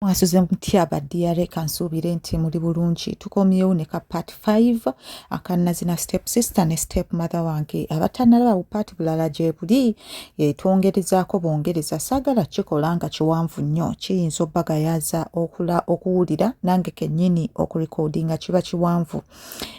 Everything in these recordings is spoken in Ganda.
mwasuze mutya ba diare kansuubire nti muli bulungi tukomyewo ne ka part 5 akanazina step sister ne step mother wange abatanalabawo part bulala gyebuli e, twongerezaako bongereza saagala kikola nga kiwanvu nnyo kiyinza obagayaza okula okuwulira nange kennyini okurekodinga kiba kiwanvu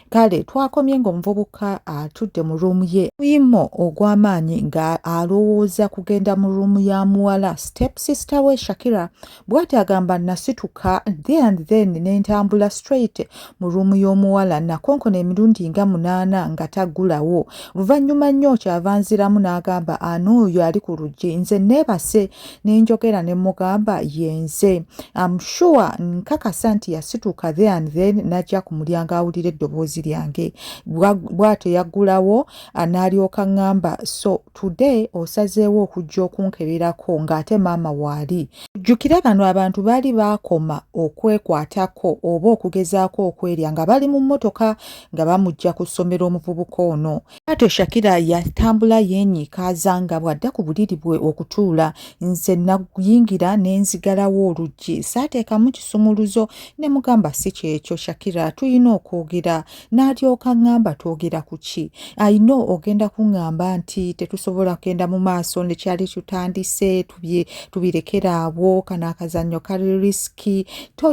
kale twakomye ng'omuvubuka atudde mu ruumu ye muyimo ogw'amaanyi nga alowooza kugenda mu ruumu ya muwala step sister we shakira bwati agamba nasituka the and then nentambula straight mu ruumu y'omuwala nakonkona emirundi nga munaana nga taggulawo luvannyuma nnyo kyava nziramu n'agamba anoyo ali ku luggi nze neebase nenjogera ne mugamba yenze am sure nkakasa nti yasituka there and then najja ku mulyango awulira eddoboozi lyange bwatyo yaggulawo n'alyoka ŋŋamba so today osazeewo okujja okunkeberako ng'ate maama waali jjukira bano abantu baali baakoma okwekwatako oba okugezaako okwerya nga bali mu mmotoka nga bamujja ku ssomero omuvubuka ono Kaato Shakira yatambula yeenyiikaaza nga bw'adda ku buliri bwe okutuula. Nze nayingira ne nzigalawo oluggi. Saateekamu kisumuluzo ne mugamba si kyekyo Shakira tulina okwogera. N'alyoka ng'amba twogera ku ki? I know ogenda kung'amba nti tetusobola kugenda mu maaso ne kyali tutandise tubirekera awo kano akazannyo kali risiki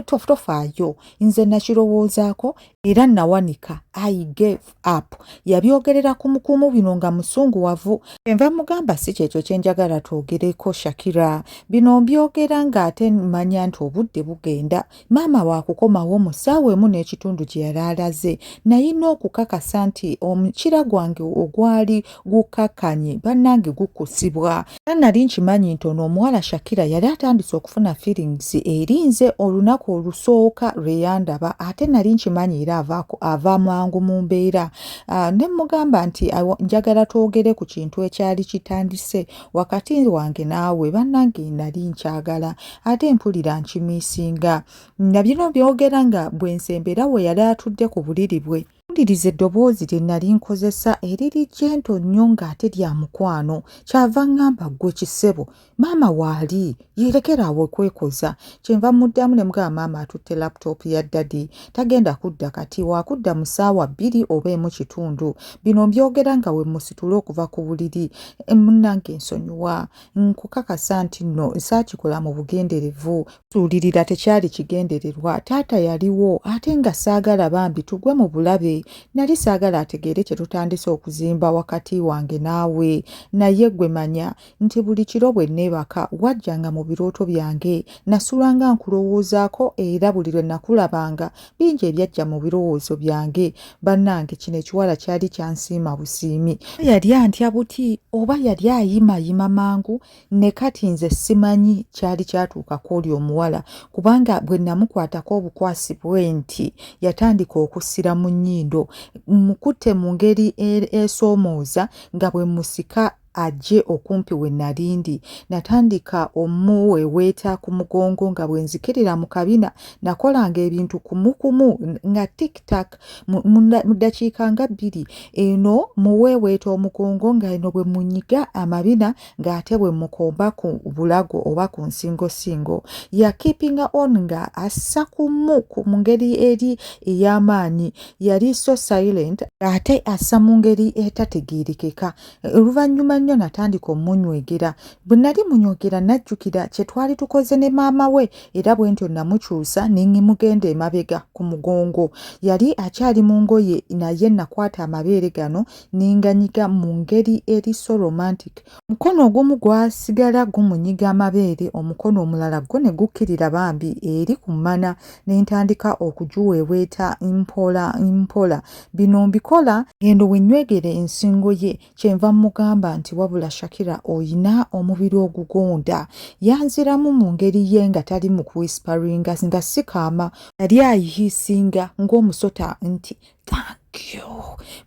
tofaayo. Nze nakirowoozaako era nawanika i gave up yabyogerera ku mukuumu bino nga musunguwavu enva mugamba si kyekyo kyenjagala twogereko shakira bino mbyogera ng'ate manya nti obudde bugenda maama waakukomawo mu ssaawa emu n'ekitundu gye yali alaze naye n'okukakasa nti omukira gwange ogwali gukakanye banange gukusibwa era nali nkimanyi nti ono omuwala shakira yali atandise okufuna feelings erinze olunaku olusooka lweyandaba ate nali nkimanyi era avaako ava mangu mu mbeera ah, ne mugamba nti njagala twogere ku kintu ekyali kitandise wakati wange naawe banange nali nkyagala ate mpulira nkimisinga nabino byogera nga bwensembera we yali atudde ku buliri bwe Mpuliriza eddoboozi lye nnali nkozesa eriri jento nnyo ng'ate lya mukwano. Kyava ŋŋamba ggwe kisebo, maama waali, yeerekera awo okwekoza. Kyenva mmuddamu ne mugamba maama atutte laputoopu ya ddadi, tagenda kudda kati, waakudda mu ssaawa bbiri oba emu kitundu. Bino mbyogera nga we mmusitula okuva ku buliri. Munnange nsonyiwa, nkukakasa nti nno saakikola mu bugenderevu. Tuulirira tekyali kigendererwa taata yaliwo ate nga saagala bambi tugwe mu bulabe nali saagala ategeere kye tutandise okuzimba wakati wange naawe naye gwe manya nti buli kiro bwe neebaka wajjanga mu birooto byange nasulanga nkulowoozaako era buli lwe nakulabanga bingi ebyajja mu birowoozo byange bannange kino ekiwala kyali kyansiima busiimi yali antya buti oba yali ayimayima mangu ne kati nze simanyi kyali kyatuukako oli omuwala kubanga bwe namukwatako obukwasi bwe nti yatandika okusira mu nnyindo mukutte mu ngeri e-, esoomooza nga bwe musika ajje okumpi we nalindi natandika omuweweeta ku mugongo nga bwe nzikirira mu kabina nakolanga ebintu kumukumu nga tiktak mu ddakiika nga bbiri eno muweweeta omugongo nga eno bwe munyiga amabina ng'ate bwe mukomba ku bulago oba ku nsingosingo yakiipinga on nga assa kumu mu ngeri eri ey'amaanyi yali so silent ng'ate assa mu ngeri etategeerekeka oluvannyuma nnyo natandika omunywegera bwe nali munywegera najjukira kye twali tukoze ne maama we era bwe ntyo namukyusa ne mugenda emabega ku mugongo yali akyali mu ngoye naye nakwata amabeere gano n'enganyiga mu ngeri eri so romantic, omukono ogumu gwasigala gumunyiga amabeere omukono omulala gwo ne gukkirira bambi eri ku mmana ne ntandika okugiweeweeta mpola mpola. Bino mbikola ng'endo we nnywegera ensingo ye kyenva mmugamba nti wabula Shakira olina omubiri ogugonda. Yanziramu mu ngeri ye nga tali mu kuwisiparinga nga si kaama yali ayihiisinga ng'omusota nti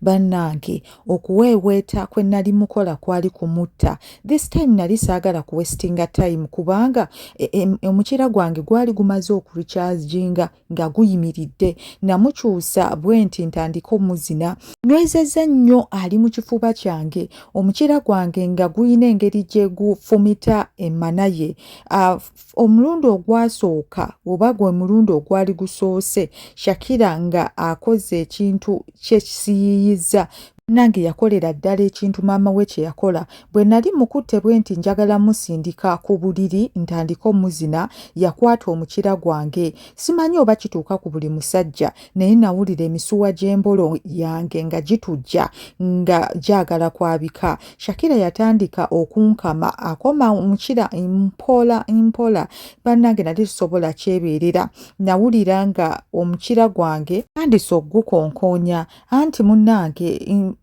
bannange okuweeweeta kwe nali mukola kwali kumutta this time nali saagala kuwesitinga time kubanga e, e, omukira gwange gwali gumaze okurukyajinga nga guyimiridde namukyusa bwe nti ntandika omuzina nwezezza nnyo ali mu kifuba kyange omukira gwange nga guyina engeri gye gufumita emana ye ah, omulundi ogwasooka oba gwe mulundi ogwali gusoose shakira nga akoze ekintu kyekisiyiyiza nange yakolera ddala ekintu maama we kye yakola bwe nali mukutte bwe nti njagala musindika ku buliri ntandika omuzina yakwata omukira gwange simanyi oba kituuka ku buli musajja naye nawulira emisuwa gy'embolo yange nga gitujja nga gyagala kwabika shakira yatandika okunkama akoma mukira mpola mpola bannange nali tusobola kyebeerera nawulira nga omukira gwange tandise okugukonkonya anti munnange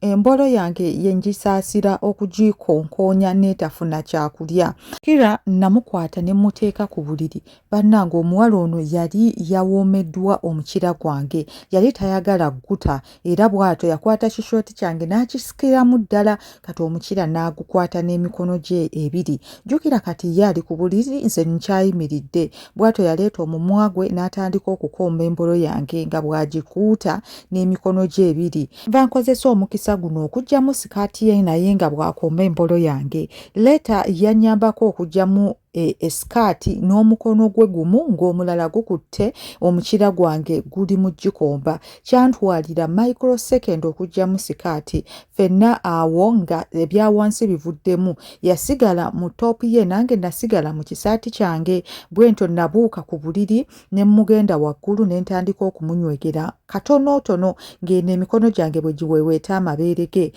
embolo yange yengisaasira okugikonkonya neetafuna kyakulya kira namukwata ne muteeka ku buliri bannange omuwala ono yali yawoomeddwa omukira gwange yali tayagala gguta era bw'atyo yakwata kishooti kyange n'akisikiramu ddala kati omukira n'agukwata n'emikono gye ebiri jjukira kati ye ali ku buliri nze nkyayimiridde bw'atyo yaleeta omumwa gwe n'atandika okukomba embolo yange nga bw'agikuuta n'emikono gye ebiri nva nkozesa omukisa guno okugyamu sikaati ye naye nga bw'akomba embolo yange leeta yannyambako okugyamu E, esikaati n'omukono gwe gumu ng'omulala gukutte omukira gwange guli mu gikomba kyantwalira microsecond okugyamu sikaati fenna awo nga ebya wansi bivuddemu yasigala mu toopu ye nange nasigala mu kisaati kyange bwentyo nabuuka ku buliri ne mmugenda waggulu ne ntandika okumunywegera katonootono ng'eno emikono gyange bwe giweeweeta amabeere ge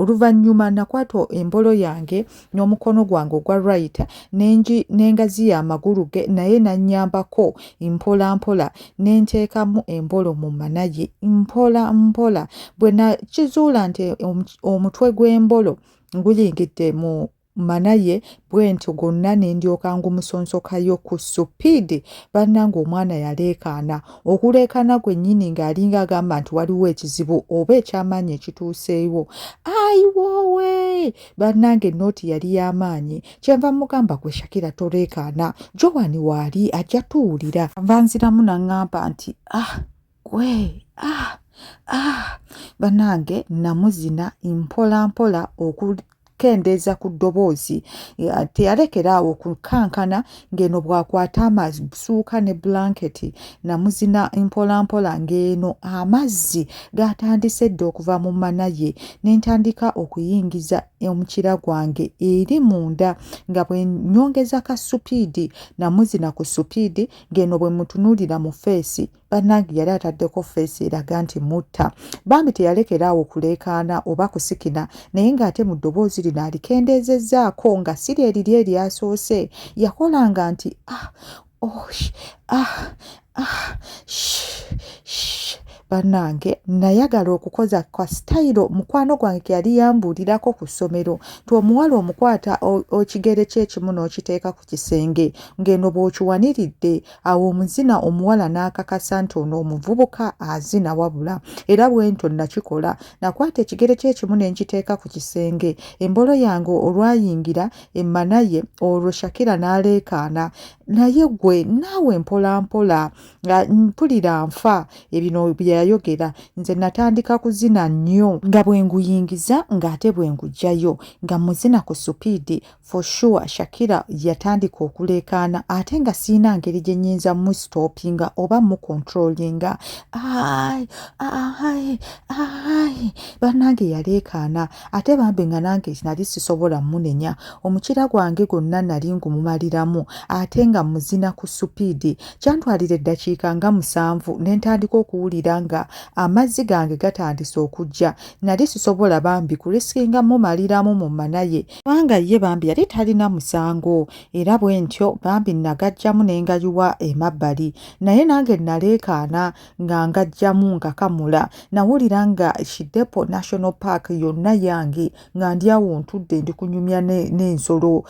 oluvannyuma nakwata embolo yange n'omukono gwange ogwa right nengi nengazi ya magulu ge naye nanyambako mpola mpola nenteekamu embolo mu manaye mpola mpola bwe nakizuula nti omutwe gw'embolo guyingidde mu manaye bwentyo gonna nendyoka ngumusonsokayo ku supiidi bannanga omwana yaleekaana okuleekaana gwennyini ng'alinga agamba nti waliwo ekizibu oba ekyamaanyi ekituuseewo ayiwoowe bannange nooti yali y'amaanyi kyenva mugamba gwe shakira toleekaana joan waali ajja tuwulira nva nziramu naŋŋamba nti ah gwe ah ah bannange namuzina mpola mpola oku kendeeza ku ddoboozi teyalekera awo kukankana ng'eno bw'akwata amazzi busuuka ne bulanketi namuzina mpolampola ng'eno amazzi gaatandise dda okuva mu mana ye ne ntandika okuyingiza omukira gwange eri munda nga bwe nnyongeza ka supiidi namuzina ku supiidi ng'eno bwe mutunuulira mu feesi bannange yali ataddeko feesi eraga nti mutta bambi teyalekera awo kuleekaana oba kusikina naye ng'ate mu ddoboozi lino alikendeezezzaako nga siri eriri eryasoose yakolanga nti ah, oh, ah, ah, sh, sh. bannange nayagala okukoza kwa sitayiro mukwano gwange keyali yambuulirako ku ssomero nti omuwala omukwata okigere kyekimu n'okiteeka ku kisenge ng'eno bw'okiwaniridde awo omuzina omuwala n'akakasa nti ono omuvubuka azina wabula era bwentyo nakikola nakwata ekigere kyekimu ne nkiteeka ku kisenge embolo yange olwayingira emmanaye olwo shakira n'aleekaana naye gwe naawe mpolampola nga mpulira nfa ebino byeyayogera nze natandika kuzina nnyo nga bwenguyingiza ng'ate bwengugyayo nga muzina ku supiidi for sure shakira yatandika okuleekaana ate nga sirina ngeri gye nyinza mustopinga oba mucontrolinga ai ai ai bannange yaleekaana ate bambi nga nange nali sisobola munenya omukira gwange gwonna nali ngumumaliramu ate nga muzina ku supiidi kyantwalira eddakiika nga musanvu ne ntandika okuwulira nga amazzi gange gatandise okujja nali sisobola bambi kulisikinga mumaliramu mu manaye kubanga ye bambi yali talina musango era bwe ntyo bambi nagajjamu ne ngayiwa emabbali naye nange naleekaana nga ngajjamu ngakamula nawulira nga shidepo national park yonna yange nga ndi awo ntudde ndi kunyumya n'ensolo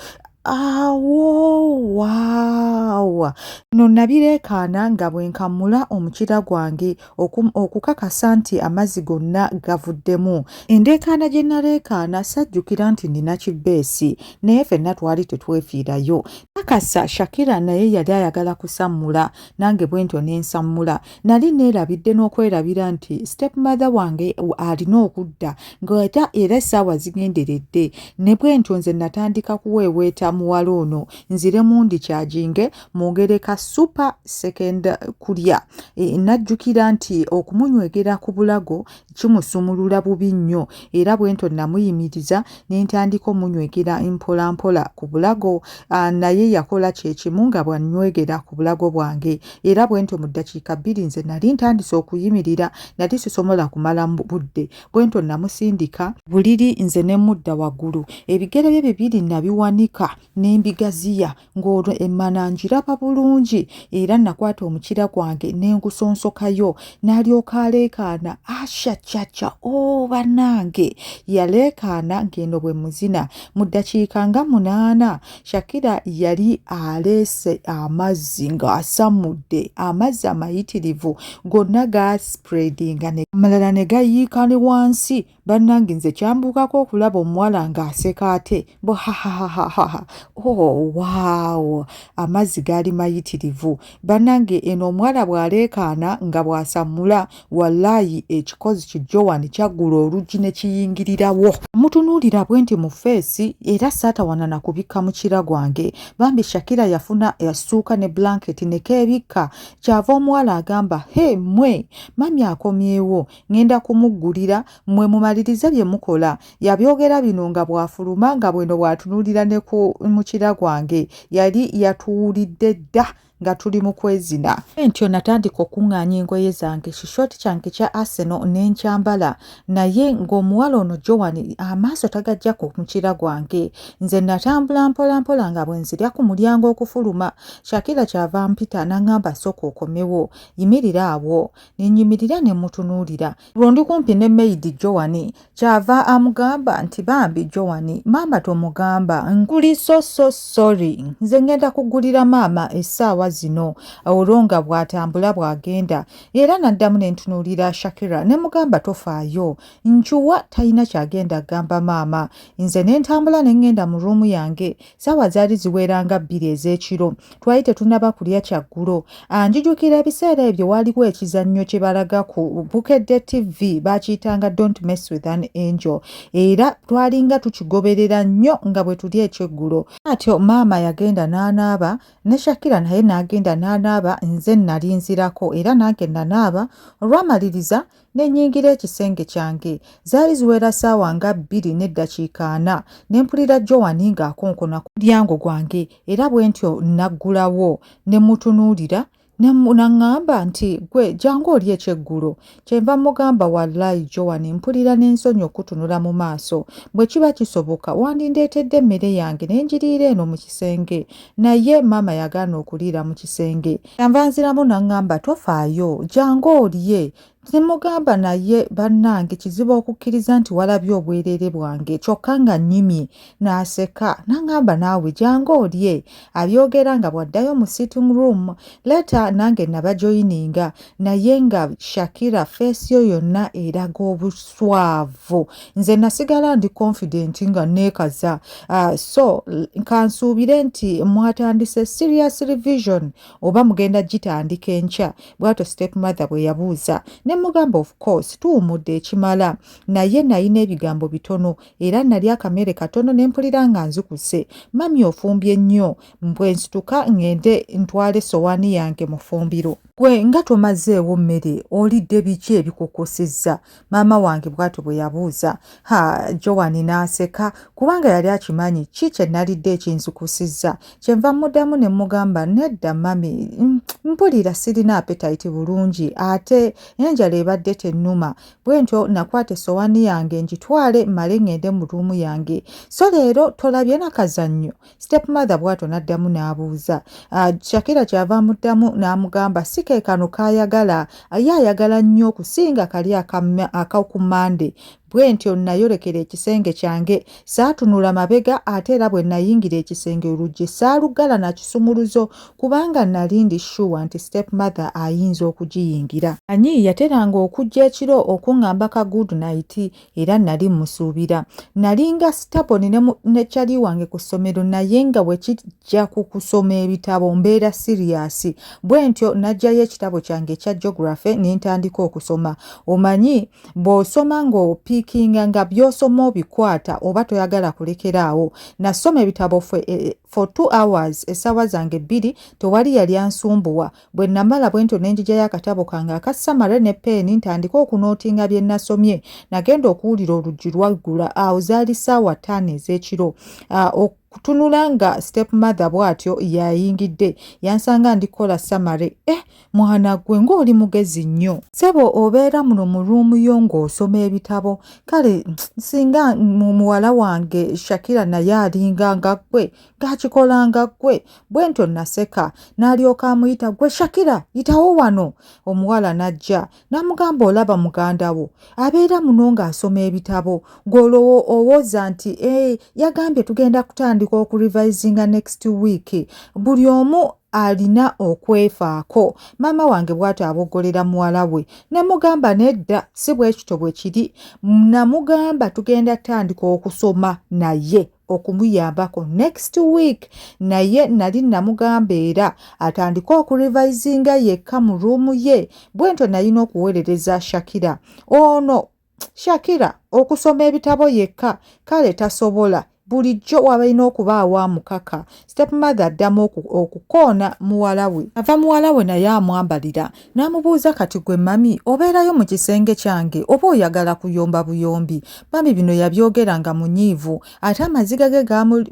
awowaawa no nabireekaana nga bwe nkamula omukira gwange okukakasa nti amazzi gonna gavuddemu endeekaana gye naleekaana sajjukira nti nina kibbeesi naye fenna twali tetwefiirayo kakasa shakira naye yali ayagala kusammula nange bwentyo nensammula nali neerabidde n'okwerabira nti step mother wange alina okudda ngaeta era essaawa zigenderedde ne bwentyo nze natandika kuweeweeta muwala ono nzire mundi kyaginge mu ngereka super second kulya e, najjukira nti okumunywegera ku bulago kimusumulula bubi nnyo era bwento namuyimiriza nentandika omunywegera mpolampola ku bulago naye yakola kyekimu nga bwanywegera ku bulago bwange era bwento mu ddakiika bbiri nze nali ntandise okuyimirira nali sisomola kumala budde bwento namusindika buliri nze nemudda waggulu ebigere bye bibiri nabiwanika nembigaziya ng'olwo emmana ngiraba bulungi era nakwata omukira gwange ne ngusonsokayo n'alyoka aleekaana ashacaca o oh, bannange yaleekaana ng'eno bwe muzina mu ddakiika nga munaana shakira yali aleese amazzi ng'asamudde amazzi amayitirivu gonna gaasipuredinga amalala ne gayiika ne wansi bannange nze kyambuukako okulaba omuwala ng'aseka ate bo hahahahaha oh, waawo amazzi gaali mayitirivu bannange eno omuwala bw'aleekaana nga bw'asammula wallaayi ekikozi ki joan kyaggula oluggi ne kiyingirirawo mutunuulira bwe nti mu feesi era saatawana na kubikka mukira gwange bambi shakira yafuna yassuuka ne blanketi ne keebikka kyava omuwala agamba he mwe mami akomyewo ngenda kumuggulira mmwe mumalirize bye mukola yabyogera bino nga bw'afuluma nga bweno bw'atunuulira ne ku mukira gwange yali yatuwulidde dda nga tuli mu kwezina entyo natandika okuŋŋaanya engoye zange kishoti kyange kya aseno ne nkyambala naye ng'omuwala ono joan amaaso tagajja ku mukira gwange nze natambula mpolampola nga bwe nzirya ku mulyango okufuluma shakira kyava mpita n'aŋŋamba sooka okomewo yimirira awo nenyimirira ne mutunuulira lwo ndi kumpi ne meyidi jowani kyava amugamba nti bambi jowani maama tomugamba nkuli so so sorry nze ngenda kugulira maama essaawa zino olwo nga bw'atambula bw'agenda era naddamu ne ntunuulira shakira ne mugamba tofaayo ncuwa talina kyagenda agamba maama nze ne ntambula ne ngenda mu ruumu yange saawa zaali ziwera nga bbiri ez'ekiro twali tetunaba kulya kyaggulo anjijukira ebiseera ebyo waaliwo ekizannyo kye balaga ku bukedde tv baakiyitanga don't mess with an angel era twalinga tukigoberera nnyo nga bwe tuli ekyeggulo atyo maama yagenda n'anaaba ne shakira naye n'agenda n'anaaba nze nali nzirako era nange nanaaba olwamaliriza ne nnyingira ekisenge kyange zaali ziwera ssaawa nga bbiri n'eddakiika ana ne mpulira jowani ng'akonkona ku mulyango gwange era bwe ntyo nnaggulawo ne mutunuulira naŋŋamba nti gwe jangu oli ekyeggulo kyenva mmugamba wallayi jowani mpulira n'ensonyi okutunula mu maaso bwe kiba kisoboka wandindeetedde emmere yange ne njiriira eno mu kisenge naye maama yagaana okuliira mu kisenge Yanva nziramu n'aŋŋamba tofaayo, jangu olye. Ne mmugamba naye bannange kizibu okukkiriza nti walabye obwereere bwange kyokka nga nnyimye n'aseka n'aŋŋamba naawe jangu olye. Abyogera nga bw'addayo mu sitting room. Leeta nange nabajoyininga naye nga Shakira feesi yo yonna eraga obuswavu nze nasigala ndi confident nga neekaza uh, so kansuubire nti mwatandise serious revision oba mugenda gitandika enkya bwatyo step mother bwe yabuuza ne mugamba of course tuwumudde ekimala naye nalina ebigambo bitono era nali akamere katono ne mpulira nga nzikuse mami ofumbye nnyo mbwe nsituka ngende ntwale sowaani yange mufumbiro gwe nga tomazeewo mmere olidde biki ebikukusizza maama wange bw'atyo bwe yabuuza ha jowani n'aseka kubanga yali akimanyi ki kye nalidde ekinzukusizza kyenva muddamu ne mugamba nedda mami mm, mpulira sirina apetayiti bulungi ate enjala ebadde tennuma bwe ntyo nakwata essowaani yange ngitwale male ŋŋende mu ruumu yange so leero tolabye nakazannyo step mother bwatyo n'addamu n'abuuza ah, shakira kyava amuddamu n'amugamba si ke kano k'ayagala ye ayagala nnyo okusinga kali akaku mande bwe ntyo nayolekera ekisenge kyange saatunula mabega ate era bwe nayingira ekisenge oluggi saaluggala na kisumuluzo kubanga nali ndi shuwa nti step mother ayinza okugiyingira anyi yateranga okujja ekiro okuŋŋamba ka good night era nali musuubira nalinga sitaboni ne kyali wange ku ssomero naye nga bwe kijja ku kusoma ebitabo mbeera siriyasi bwe ntyo najjayo ekitabo kyange ekya geography ne ntandika okusoma omanyi bw'osoma ng'opiikinga nga by'osoma obikwata oba toyagala kulekera awo nasoma ebitabo fwe e, e, for two hours essaawa zange bbiri tewali yali ansumbuwa Bwe namala bwentyo ne njijayo akatabo kange aka samare ne peeni ntandike okunootinga bye nasomye. Nagenda okuwulira oluggi lwaggula. Awo zaali ssaawa ttaano ez'ekiro. Ah, okutunula nga step mother bw'atyo yayingidde. Yansanga ndi kukola samare. Eh, mwana gwe ng'oli mugezi nnyo. Ssebo obeera muno mu ruumu yo ng'osoma ebitabo. Kale singa muwala wange Shakira naye alinga nga ggwe gakikolanga ggwe bwe ntyo naseka n'alyoka amuyita gwe shakira yitawo wano omuwala n'ajja n'amugamba olaba muganda wo abeera muno ng'asoma ebitabo gw'olowo owoza nti e yagambye tugenda kutandika okurivisinga next week buli omu alina okwefaako maama wange bw'ati aboggolera muwala we ne mugamba nedda si bwekito bwe kiri namugamba tugenda tandika okusoma naye okumuyambako next week naye nali namugamba era atandike okurivisinga yekka mu ruumu ye bwentyo nalina okuweerereza shakira ono shakira okusoma ebitabo yekka kale tasobola bulijjo wabalina okubaawo amukaka stepmother addamu okukoona muwala we ava muwala we naye amwambalira N'amubuuza kati gwe mami obeerayo mu kisenge kyange oba oyagala kuyomba buyombi? Mami bino yabyogera nga munyiivu ate amaziga ge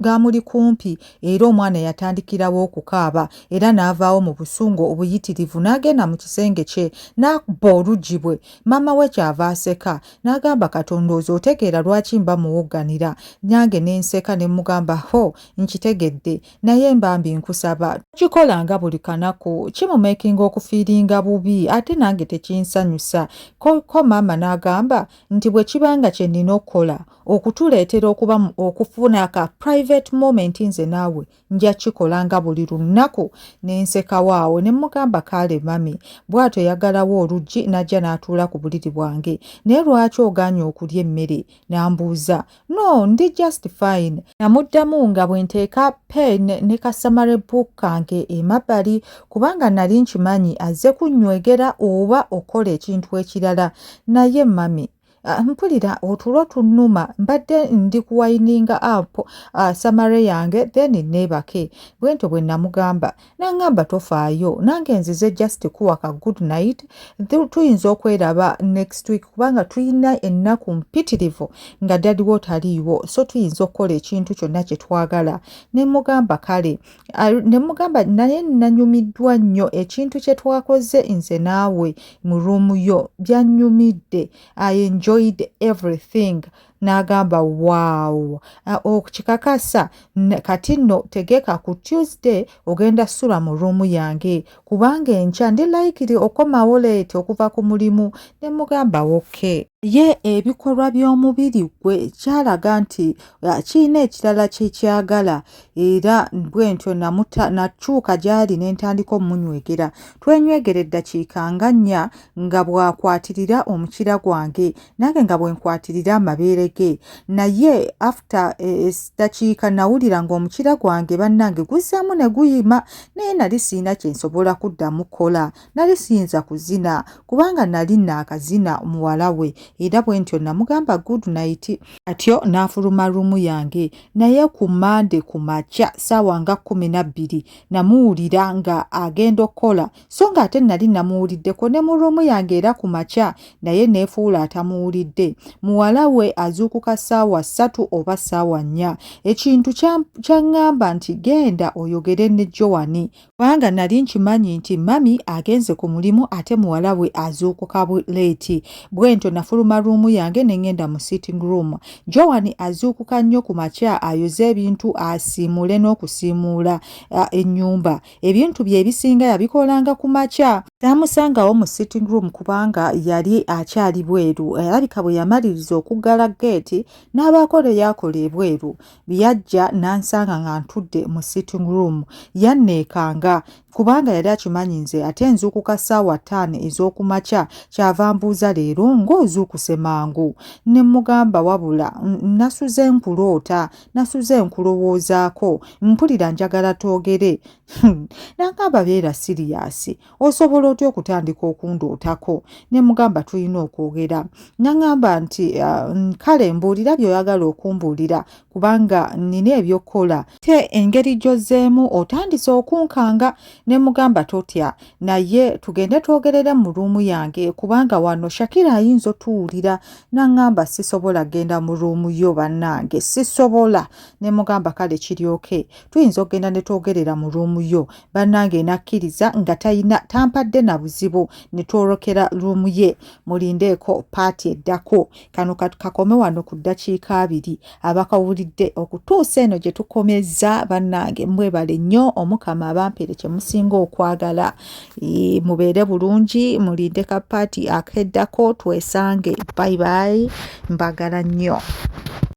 gaamuli kumpi era omwana yatandikirawo okukaaba era n'avaawo mu busungu obuyitirivu n'agenda mu kisenge kye n'akubba oluggi bwe maama we kyava aseka n'agamba Katonda oze otegeera lwaki mba muwogganira nange ne nseka ne mugamba ho nkitegedde naye mbambi nkusaba kikola nga buli kanaku kimumakinga okufiiringa bubi ate nange tekinsanyusa ko maama n'agamba nti bwe kibanga kye nnina okukola okutuleetera okuba okufuna aka private moment nze naawe nja kikola nga buli lunnaku ne nsekawo awo ne mmugamba kaale mami bw'atyo yagalawo oluggi n'ajja n'atuula ku buliri bwange naye lwaki ogaanye okulya emmere n'ambuuza no ndi just fine namuddamu nga bwe nteeka pen ne kasamare book kange emabbali kubanga nali nkimanyi azze kunnywegera oba okola ekintu ekirala naye mami ah, mpulira otulo tunnuma mbadde ndi kuwayininga app ah, samare yange then neebake bwentyo bwe namugamba nangamba tofaayo nange nzize just kuwa ka good night tuyinza okweraba next week kubanga tulina ennaku mpitirivu nga dadiwo taliiwo so tuyinza okukola ekintu kyonna kyetwagala nemugamba kale nemugamba naye nanyumiddwa nnyo ekintu kyetwakoze nze naawe mu ruumu yo byanyumidde i enjoyed everything n'agamba waawo okikakasa kati nno tegeka ku tuesday ogenda sula mu ruumu yange kubanga enkya ndi layikiri okomawo leeti okuva ku mulimu ne mugamba wokke ye ebikolwa by'omubiri gwe kyalaga nti ah, kirina ekirala kye kyagala era bwentyo nakyuka gy'ali ne ntandika omunywegera twenywegera eddakiika nga nnya nga bw'akwatirira omukira gwange nange nga bwenkwatirira amabeere ge naye after edakiika eh, eh, nawulira ng'omukira gwange bannange guzzaamu ne guyima naye nali sirina kye nsobola kuddamu kola nali siyinza kuzina kubanga nali naakazina muwala we era bwe ntyo namugamba good night atyo n'afuluma ruumu yange naye ku mande ku makya saawa nga kumi na bbiri namuwulira nga agenda okukola so ng'ate nali namuwuliddeko ne mu ruumu yange era ku makya naye neefuula atamuwulidde muwala we azuukuka ssaawa ssatu oba ssaawa nnya ekintu kyaŋŋamba nti genda oyogere ne jowani kubanga nali nkimanyi nti mami agenze ku mulimu ate muwala we azuukuka leeti bwentyo nafuluma ruumu yange ne ŋŋenda mu sitting room jowani azuukuka nnyo ku makya ayoze ebintu asiimuule n'okusiimuula ennyumba ebintu bye ebisinga yabikolanga ku makya taamusangawo mu sitting room kubanga yali akyali bweru alabika bwe yamaliriza okuggala geeti n'abaako lwe yakola ebweru byajja n'ansanga nga ntudde mu sitting room yanneekanga kubanga yali akimanyi nze ate nzuukuka ssaawa ttaano ez'okumakya kyava mbuuza leero ng'ozuukuse mangu ne mmugamba wabula nasuze nkuloota nasuze nkulowoozaako mpulira njagala twogere hmm. nangamba beera siriyasi osobola otya okutandika okundootako ne mugamba tulina okwogera nangamba nti ah, kale mbuulira byoyagala okumbuulira kubanga nina ebyokukola te engeri gyozzeemu otandise okunkanga ne mugamba totya naye tugende twogerere mu ruumu yange kubanga wano shakira ayinza otuwulira naŋŋamba sisobola genda mu ruumu yo bannange sisobola ne mugamba kale kiryoke tuyinza okugenda ne twogerera mu ruumu yo bannange nakkiriza nga talina tampadde na buzibu ne twolokera ruumu ye mulindeeko paati eddako kano katukakome wano ku ddakiika abiri abakawulidde okutuusa eno gye tukomezza bannange mwebale nnyo omukama abampere kye musinga okwagala mubeere bulungi mulinde ka paati akeddako twesange bayibayi mbagala nnyo